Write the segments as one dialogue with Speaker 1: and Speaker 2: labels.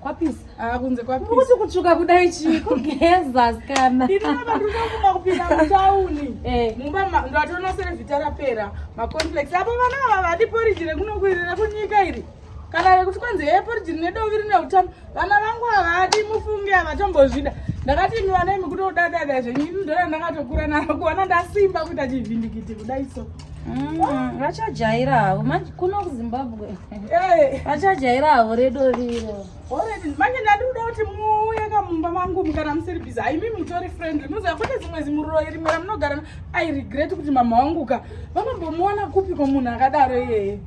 Speaker 1: kwapisa ah,
Speaker 2: kunze kwapisa kuti
Speaker 1: kutsvuka kudai
Speaker 2: chii kugeza sikana ini navandunauma
Speaker 1: kupinda mutauni eh. mumba ndatoona serevhita rapera maconflex apo vana ava vadi poriji rekunokwirira kunyika iri kana rekuti kwanzi heye poriji rine dovi rine utano vana vangu havadi mufunge havatombozvida ndakati imi vana imi kutodadada zvenyu ini ndona ndakatokura naro kuona ndasimba kuita chivhindikiti kudai so
Speaker 2: vachajaira havo kuno kuzimbabwe vachajaira havo redo riro manje ndati
Speaker 1: kuda kuti muuye kamumba mangu mukana musiri bizi haimi mutori friendly muziva kune zimwe zimuroyi rimwe ramunogara i regret kuti mama wangu ka vanombomuona kupi ko munhu akadaro iyeye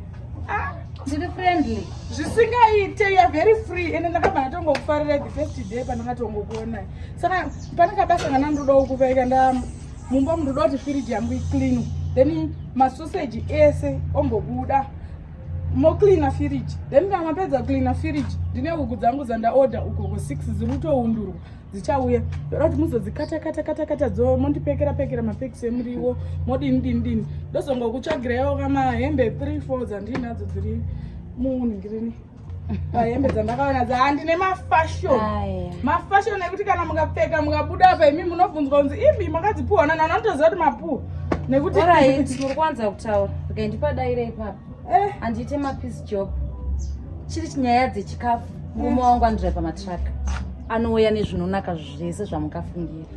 Speaker 1: ah. ndiri
Speaker 2: friendly zvisingaite
Speaker 1: ya very free ende ndakabva ndatongokufarira the first day pandakatongokuonai saka pane kabasa kana ndodawo kuvaika ndama mumba munhu uda kuti firiji yangu iclean then masoseji ese ombobuda mocleana firiji then kana mapedza kucleana firiji ndine huku dzangu dzandaorder uko ko six dziri kutoundurwa dzichauya ndoda kuti muzodzikata kata kata kata dzo mondipekera pekera mapekisi emuriwo modini dini dini ndozongokutsvagirayoka mahembe three four dzandiinadzo dziri munhu ngirini hembe dzandakaona dza handine mafashion mafashion ekuti kana mukapfeka mukabuda apa imi munobvunzwa kunzi imi makadzipuhwa nani anotoziva kuti mapuhwa nekuti muri kwanza
Speaker 2: kutaura okay ndipadaire ipapa eh. handiite mapiece job chiri nyaya dzechikafu murume wangu anodriva matraka anouya nezvinonaka zvese zvamukafungira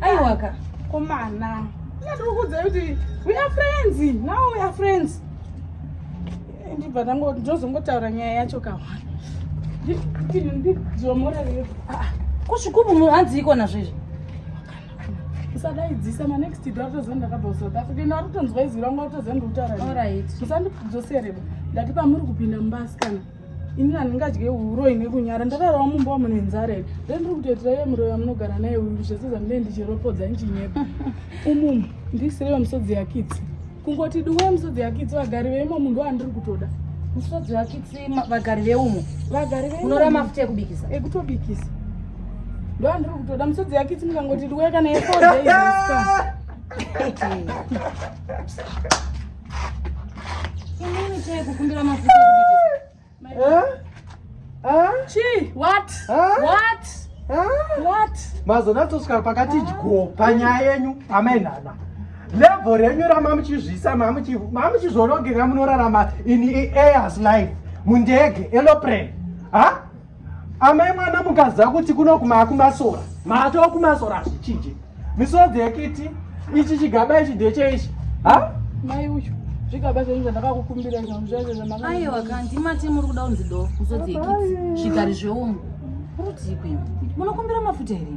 Speaker 1: aiwaka
Speaker 2: komana
Speaker 1: ndikukudzai kuti we are friends now we are friends ndibva ndozongotaura nyaya yacho kawana ndizomorereyo ah, ah. kusvikubu
Speaker 2: munhu hanzi ikona zvezvi usadaidzisa
Speaker 1: manext do atoziva ndakabva kusouth africa ino atotonzwa izwi rangu atoziva ndikutaura musandidzosereba ndati pamuri kupinda mubasikana ini handingadye uroyi nekunyara ndararawo mumba wamune nzara here nde ndiri kutoitira iye muroyi wamunogara naye uyu zvese zvandine ndichiropodza ndichinyepa umumu ndisire vemusodzi yakitsi kungoti duwe musodzi yakitsi vagari veimo munhu wandiri kutoda musodzi yakitsi
Speaker 2: vagari veumo vagari veunora mafuta ekubikisa ekutobikisa
Speaker 1: ndo andiri kutoda musodzi yakitsi mukangoti duwe kana yefoa
Speaker 3: mazonatosvika pakati ah. dyo panyaya yenyu amainhana level renyu ramamuchizvisa mamuchizvorongeka munorarama in airs life mundege eloprane ha amai mwana mukaziva kuti kuno kumaa kumasora maatova kumasora hazvichinje misodzi yekiti ichi chigaba ichi ndecheichi ha mai
Speaker 1: uyu zvigaba zvenyu zvandakakukumbira aiwa
Speaker 2: kanzi mati muri kuda kunzi do misodzi yekiti zvigari zveungu rutii kwenyu munokumbira mafuta here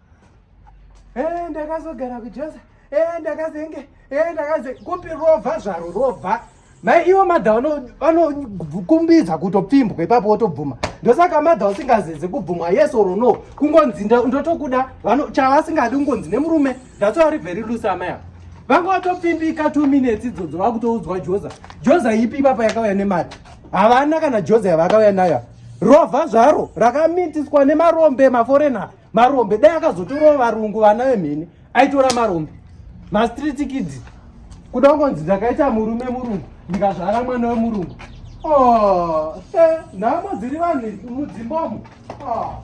Speaker 3: Eh, ndakazogara kujosa eh, ndakazenge eh, ndakaze kupi rovha zvaro rovha mai ivo madha vanokumbidza kutopfimbwa ipapo wotobvuma ndosaka madha usingazeze kubvumwa yes or no kungonzi ndotokuda chavasingadi kungonzi nemurume that's why ari very loose amai ava vanga watopfimbika two minutes idzodzo vakutoudzwa joza joza ipi ipapa yakauya nemari havana kana joza yavakauya nayo rova zvaro rakamitiswa nemarombe maforeigner marombe dai akazotorawo varungu vana vemhene aitora marombe mastreet kids kuda kungonzi ndakaita murume murungu ndikazvara mwana wemurungu oh, eh, nhamo dziri vanhu mudzimbomo oh.